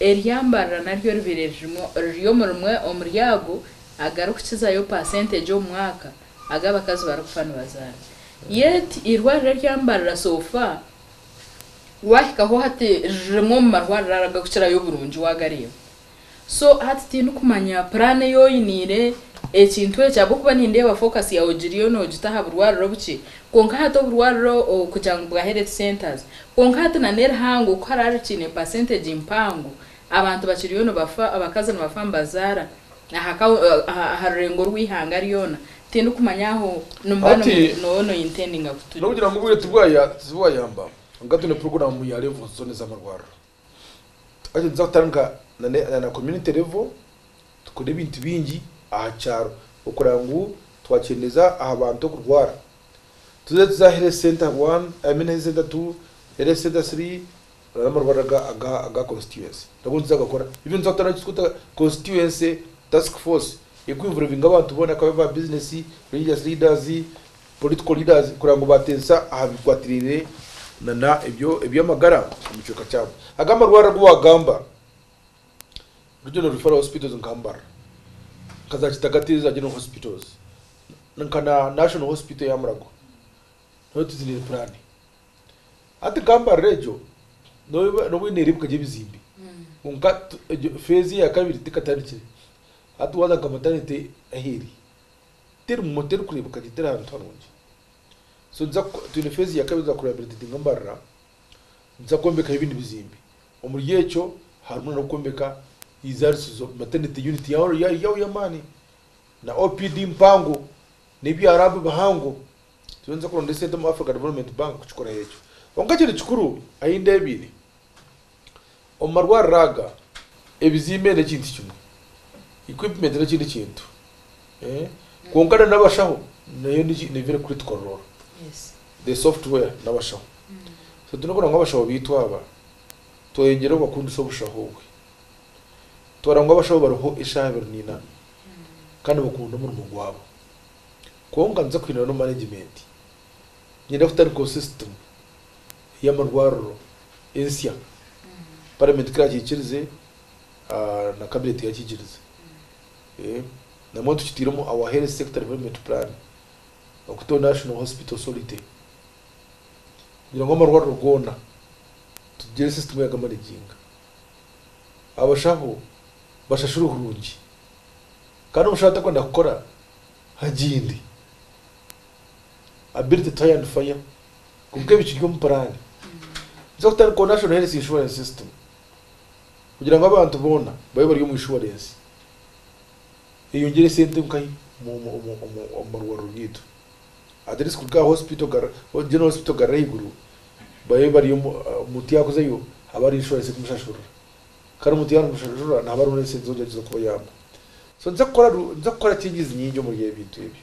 Eryambarira naryo ribaire ririmu riri omu rimwe omuri ago agarikukizayo paasentegi omu mwaka agu abakazi barikufa nibazaara. Yet eirwariro eryambarira so far waahikaho hati riri rimwe omu marwariro aragakukirayo oburungi waagareeba. So hati tindikumanya puraani ei oiniire ekintu eki ahabw'okuba nindeeba focus yaawe ogiriyo noogita aha burwariro obukye. Kwonka hati oburwariro kugira ngu bwa health centres Kwonka hati na n'erihango ku haraaba ekiine pasenteegi mpango, abantu bakiriyo nibafa, abakazi nibafa nibazaara aha rurengo rw'eihanga ryona. Tindikumanya aho nimuba nooba nointendinga kutugyera. N'okugira ngu obwire tibwayamba, kwonka twine puroguraamu ya revo zoona ez'amarwariro. Hati nituza kutandika na community level, tukore ebintu bingi aha kyaro, okureba ngu twakyendeeza aha bantu okurwara. Tuze tuze ahari center one, I mean ahari center two, ahari center three, orare amarwariro aga aga aga constituency. Nago nituza gakora. Even nituza kutandika eki tukweta constituency task force eri ku involvinga abantu boona akaba aba business, religious leaders, political leaders kureba ngu bateesa aha bikwatiraine na na ebyo eby'amagara omu kicweka kyabo. Aga amarwariro agu wagamba, Regional Referral Hospitals nka Mbarara, nka za Kitagata za General Hospitals, nka na National Hospital ya Murangwa nayo tiziine puraani. Hati nka Mbarara egyo n'obu n'obu eriyo neereebeka gye ebizimbe kwonka tu- egyo feezi eya kabiri tekatandikire. Hati waaza nka matanite ahu eri, terimu terikureebeka gye teri hantu harungi. So niza ku- twine feezi ya kabiri kuza ku rehabilitatinga Mbarara. nituza kwombekaho ebindi bizimbe. Omuri ekyo harimu na n'okwombeka Izaarisizo, Maternity Unit yaho y'amaani, na OPD mpango, n'ebyarabu bihango. Turiyo nituza kuronda esente omu Africa Development Bank kukikoraho ekyo. Kwonka ekindi kikuru ahi ndeebaine, Omu marwariro aga, ebizimbe n'ekintu kimwe, equipment n'ekindi kintu, kwonka na n'abashaho nayo niyo biri critical role, the software n'abashaho. So twine kureba ngu abashaho baitu aba tweyongyere kubakundisa obushaho obwe, twareba ngu abashaho bariho eshaaha ibiri naina kandi nibakunda omurimo gwabo. Kwonka nituza kuhindura n'omu management. Niinyenda kutarikaho sisitimu y'amarwariro ensya, paramenti ku iraakikirize na kabineeti yaakikirize. Nabumwe tukitaire omu our health sector development plan okuteho national hospital authority kugira ngu amarwariro goona tugire sisitimu ey'agamanaginga, abashaho bashashurwe kurungi kandi omushaho atakwenda kukora agende. Ability to hire and fire kwonka ebi kiri omu puraani z'okutandikaho National Health Insurance System kugira ngu abantu boona babe bari omu inshuwarensi eyongyere sente nkahi omu marwariro gaitu at least kuruga aha General Hospital kugarura ahaiguru babe bari omuntu yakuzayo habe hariho inshuwarensi erikumushashurira kandi omuntu yaaba narimushashurira nihaba hariho n'esente z'okugyenda kubayamba so nitukora changes nyingi omuri ebintu ebyo.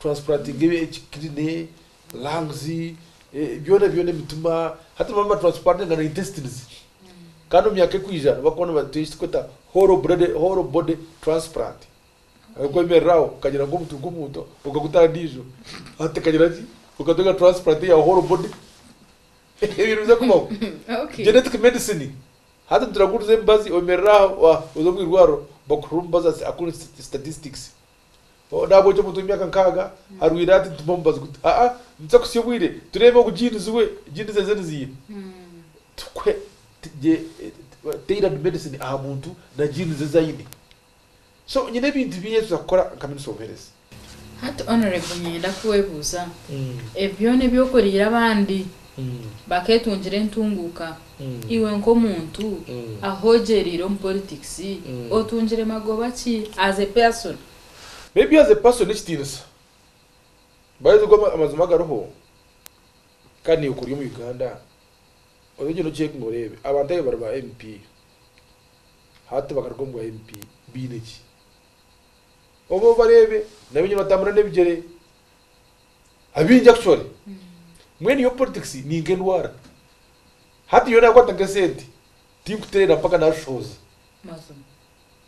Transplanting eki kidney, lungs, byona byona emitima hati noba naba transplantinga na intestines kandi omumyaka ekwija nibakuba nibatuha ekiturikweta whole body transplant ahabwokuba oyemerera aho okagira nka omutwe gw'omuntu okaguta aha ndijo hati ekagira ki okatunga transplant eya whole body ebyo nibiza kubaho genetic medicine hati nituraguza emibazi oyemerera aho oza omwirwariro bakuha omubazi akore statistics Naagwa ogye omuntu w'emyaka nkaaga arwaire ati nitumpwa omubazi guta? Aa, nituza kutsya obwire tureebe ogu genes we, genes eze niziine. Tukuhe tailored medicine aha muntu na genes ezi aine. So nyine ebintu bingi ebituza kukora nka Minisita w'Obuheereza. Hati Honourable niinyenda kwebuuza, ebyo byona ebi okoriire abandi bakeetungira entunguuka, Iwe nk'omuntu ahogyereire omu politics otungire magoba ki as a person? Maybe as a person n'ekitiinisa. By the way amazima agariho kandi naiwe kuri omu Uganda oze ogyende ocekinge oreebe abantu abu bari ba MP hati bakaruga omu bwa MP baine ki? Obe obareebe nabo enyima nibatambura n'ebigyere. Abaingi actually mbwenu yo politics ni nka endwara hati nyowe nakwata nka esente tinkuterera mpaka nazishohoza Mazima.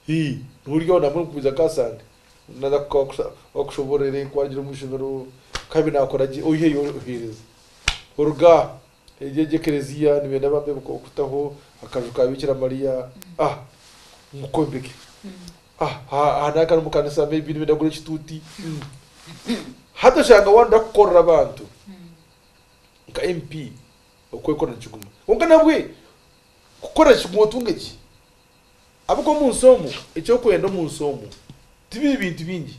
Hii nobu ori aho nabwo nikugumiza nka asande naza kuka okushoborere nkuhangire omu ishomero nkabi nakora gye oyiheyo ohereza oruga aho Egyo egyo ekereziya nibenda bambe kutaho akaju ka bikira Maria ah ngukombeke ah aha naka ari mukanisa maybe nibenda kugura ekituti mm hati oshanga wanoda kukorera abantu nka MP okwekorera nikiguma kwonka nabwe kukorera kiguma otunge ki ahabwokuba omunsi omu ekyokwenda omunsi omu tibiri bintu bingi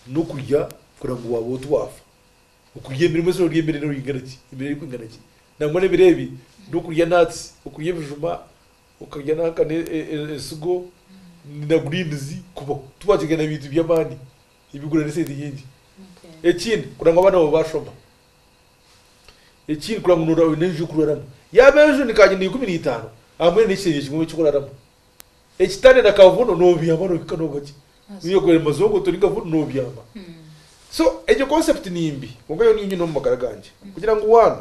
nokurya kugira ngu waaba oti wafa. Okurya ebiryo, mwena orarya emere erikuringana ki? Emere erikwingana ki? Nangwa n'ebiro ebi n'okurya nuts, okurya ebijuma, okarya nanka n'ensigo na greens kubaho. Tibakirya na bintu by'amaani ebirikugura n'esente nyingi. Ekindi kuranga ngu abaana baawe baashoma. Ekindi kuranga ngu nooraba oine enju y'okuraramu. Yaaba enju ni kanyina ikumi na itaano, aha mbwenu n'ekishengye kimwe eki orikuraramu. ekitane na kavuno nobyama nohika noga gye niyo kugura mazongo turi nka vuno nobyama so egyo concept nimbi kwonka yo niyo nyine omu magara gangye kugira ngu one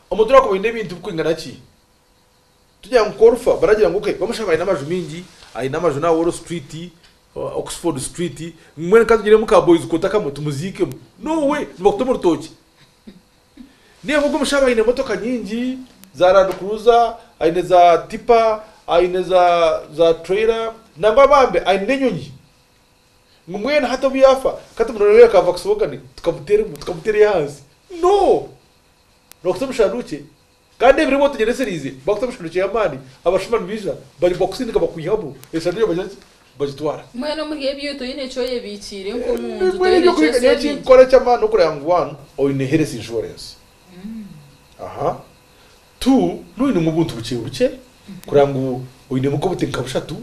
omuntu orakuba oyine ebintu bikwingana ki tugira ngu korufa baragira ngu okay bamushaba ayine amaju mingi ayine amaju na wall street oxford street mbwenu katugiremu ka boys quarter kamwe tumuziikemu no way nibakutema orutookye. Ninga ogu omushaija aine emotoka nyingi za randukuruza, aine za tipa, aine za tureyira nangwa bambi aine n'enyonyi. Ngu mbwenu hati obu yaafa ka tumureeberere akaava Kisibogane tukamuteera ahansi? No! Nookuta omu kishandukye. Kandi ebiro ebi otugyendeseriize baakuta emishwaro ky'ey'amaani, abashuma nibaija, bari bakusindika bakwihamu, eshagama eyo bagira ki? Bagitwara. Mbwenu omuri ebyo otaine eki oyebiikiire nk'omu nju, Mbwenu otaine eby'okuhiga ekyotsya n'eki ebindi. nkora eky'amaani n'okureba ngu, one, oine health insurance, aha, two, n'oba oinemu obuntu bukye bukye, kureba ngu oinemu nk'obuti nka bushatu,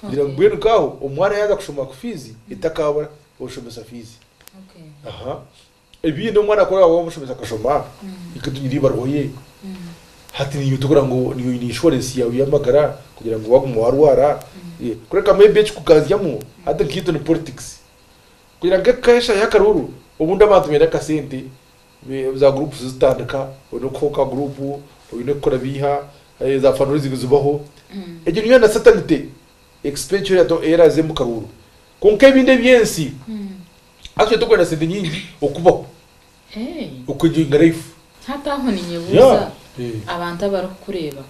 kugira ngu Okay. mbwenu nk'aho omwana yaaza kushoma ku fiizi etakaabura oshomesa fiizi, Okay. aha. Ebindi omwana akora waaba omushomesa akashoma, itwe twine eibaruha ye. Hati naiwe tokora ngu naiwe oine inshuwarensi yaawe y'amagara kugira ngu waaguma waarwara. Kureka maybe ekikuganzyamu hati nkaitwe ni politics. Kugira ngu eka eshaahe akaruuru, obundi abantu baine akasente, za groups zitandika, oine kuha oka group, oine kukora biiha, za fundraising zibaho. Egyo niyo na certainty expenditure ei eraaze omu karuuru. Kwonka ebindi eby'ensi, Actually tokwenda sente nyingi okubaho Hey. okwenjoyinga life. Hati aho ninyebuuza Yeah, eh. abantu abarikukureeba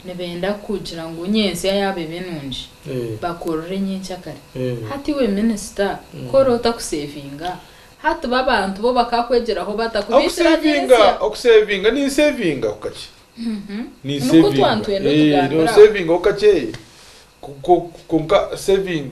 nibenda kugira ngu nyentsya yaaba ebe nungi Eh. bakuroore nyentsya kare. Eh. Hati iwe minisita ku ori otakusevinga hati bo abantu bo bakakwegyeraho bata ku biikira Okusevinga nyentsya? okusevinga ninsevingaho kakye. Nikwo twantwenda otugambire aho. Ninsevingaho kakye ku- ku- kwonka saving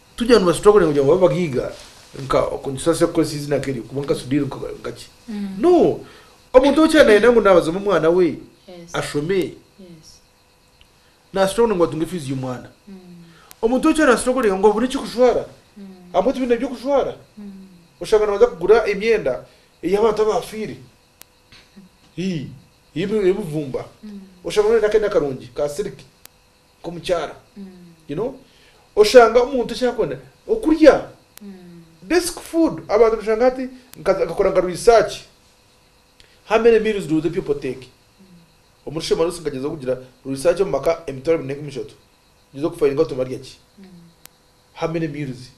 Tugira ngu bastruggle kugira ngu babe bagaiga nka oku nitushusha se kukoresa eizina nkeryo kuba nka Sudhir nka ki? No! Omuntu ou okyari nayenda ngu nabazamu omwana we ashome nastruggle ngu atunge fees y'omwana. Omuntu ou okyari nastruggle ngu abone eky'okujwara ahabw'okuba tibaine by'okujwara. Oshanga nabanza kugura emyenda ey'abantu abafire, ii, ey'ebibumba. Oshanga noyenda akenda karungi ka silk nkomukyara you know oshanga omuntu ekyakwenda okurya basic food abantu noshanga hati nkakora nka research how many meals do the people take omuri shemarusi nkagyezaho kugira research omumaka emitwaro ebiri ninga emishatu ngyezaho ku findinga ngu nibarya ki how many meals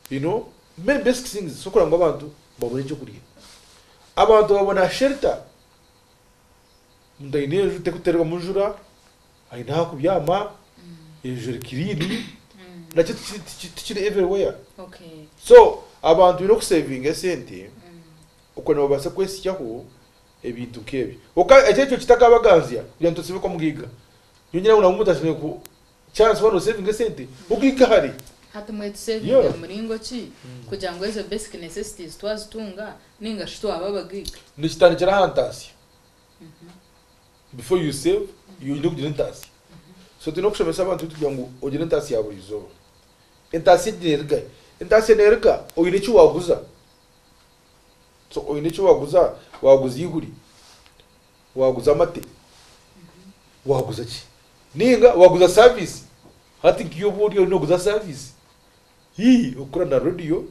you know many basic things ezisobola kugira ngu abantu babone ekyokurya abantu babona shelter. Omuntu aine enju terikuterwamu njura, aine aha kubyama, enju eri kiriini, nakyo tikiri everywhere. So abantu baine okuseevinga esente okwe nabo babaase kwehitsyaho ebintu nk'ebyo. Kwonka ekyo nikyo kitakabaganzya kugira ngu tusibe kuba mugaiga. Nyowe ningira ngu nabwo omuntu ashemereire ku. Charles wari osevinga esente okuhika hare? Hati mbwenu tusevinge muringo ki kugira ngu ezo basic necessities twazitunga ninga shi twaba aba gig? Nikitandikira aha ntaasya. Before you save, oyine kugira entaasya. So tuyine kushomesa abantu kugira ngu ogire entaasya ya buri izooba. Entaasya egi neruga hi? Entaasya neruga oyine eki waguza. So oyine eki waguza, waguza ihuri. Waaguza amate? Waaguza ki? Nainga waaguza saaviisi? Hati nkaiwe obu ori oriyo nooguza saaviisi? Hii, okukora na reediyo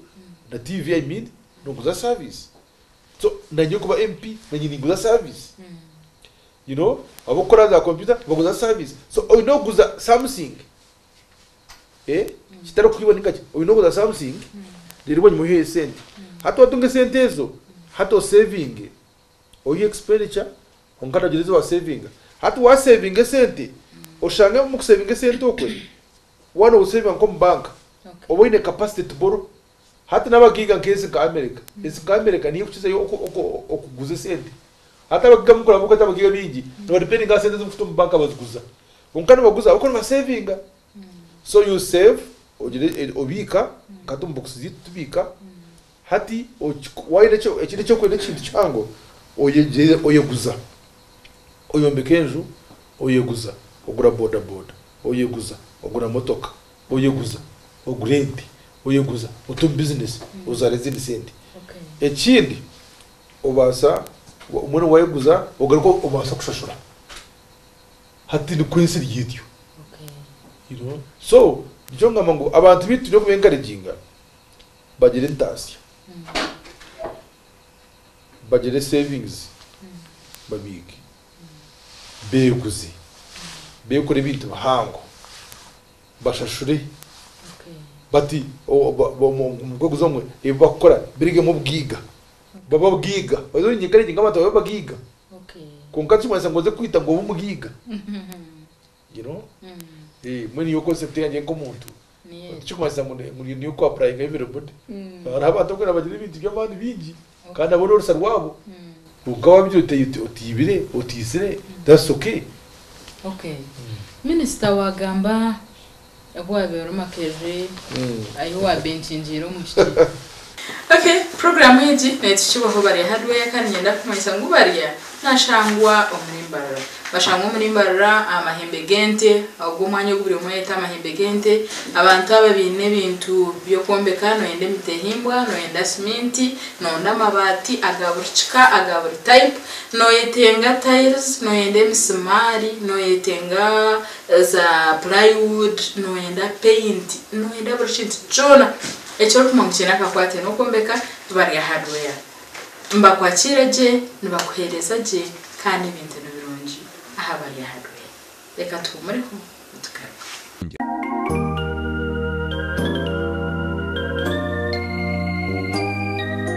na tiivi i mean nooguza saaviisi. So naanye kuba MP naanye ninguza saaviisi. You know, ab'okukora za kompyuta nibaguza saaviisi. So oine kuguza something. Kitari kwiba nainga ki? Oine kuguza something reero bwanyima oiheyo esente. Hati waatunga esente ezo, hati oseevinge. Oyiha expenditure kwonka noogira ezi waaseevinga. Hati waaseevinga esente, oshange omu kuseevinga esente okwe, waaba nooziseevinga nk'omu banka, oba oine capacity to borrow. Hati n'abagiiga nk'ezi nka America, ezi nka America nihihi kukizayo okuguza esente. Hati abagiiga nk'oku oraabe okweta abagiiga baingi, nibadipendinga aha sente ezi orikufata omu banka baziguza. Kwonka nibaguza ahabw'okuba nibaseevinga. So you save ogira obiika nkahati omu bokisi zeitu tubiika hati wayine ekindi ekyokwenda ekintu kihango oyegyere oyeguza oyombeka enju oyeguza ogura boda boda oyeguza ogura motoka oyeguza ogura ente oyeguza ote omu business ozare ezindi sente ekindi obasa mbwenu wayeguza ogaruka obasa kushashura. Hati nikwo ensi eri etyo. So nikyo nkugamba ngu abantu beitu twine kubeenkareginga bagire entaasya, bagire sevingizi, babiige, beeguze, beekore ebintu bihango, bashashure. But omukweguza omwe ebi barikukora birugeemu obugaiga, babe abagaiga. By the way, ninyeekareginga abantu babe abagaiga. Kwonka nikimanyisa ngu oze kwita ngu obe omugaiga? You know? Mbwenu nyowe concept yangye nk'omuntu tikimanyisa ngu niiwe oku apurayinga everybody. Hariho abantu abarikwenda bagire ebintu by'amaani bingi kandi nabwo n'orusa rwabo. Kwonka waabiire otaine, otaibire, otaitsire, that's okay. Okay. Minisita waagamba Ahu waabire ori makerere ahi waabe nkingiire omu kiti. Ok program egi netukibwaho barya hardware kandi nyenda kumanyisa ngu barya nashangwa omuri mbarara bashangwa omuri mbarara aha mahembe gente ogwo omwanya ogu buri omwe ayeta amahembe gente abantu aba baine ebintu byokwombeka noyenda emiti ehimbwa noyenda siminti noyenda amabati aga buri kika aga buri type noyetenga tiles noyenda emisimaari noyetenga Za plywood, noyenda paint, noyenda buri kintu kyona eki orikumanya ngu kiine akakwate n'okwombeka bari aha hardware. Nibakwakiira gye, nibakuheereza gye kandi ebintu ni birungi aha bari aha hardware. Reka tuhumureho nitugaruka.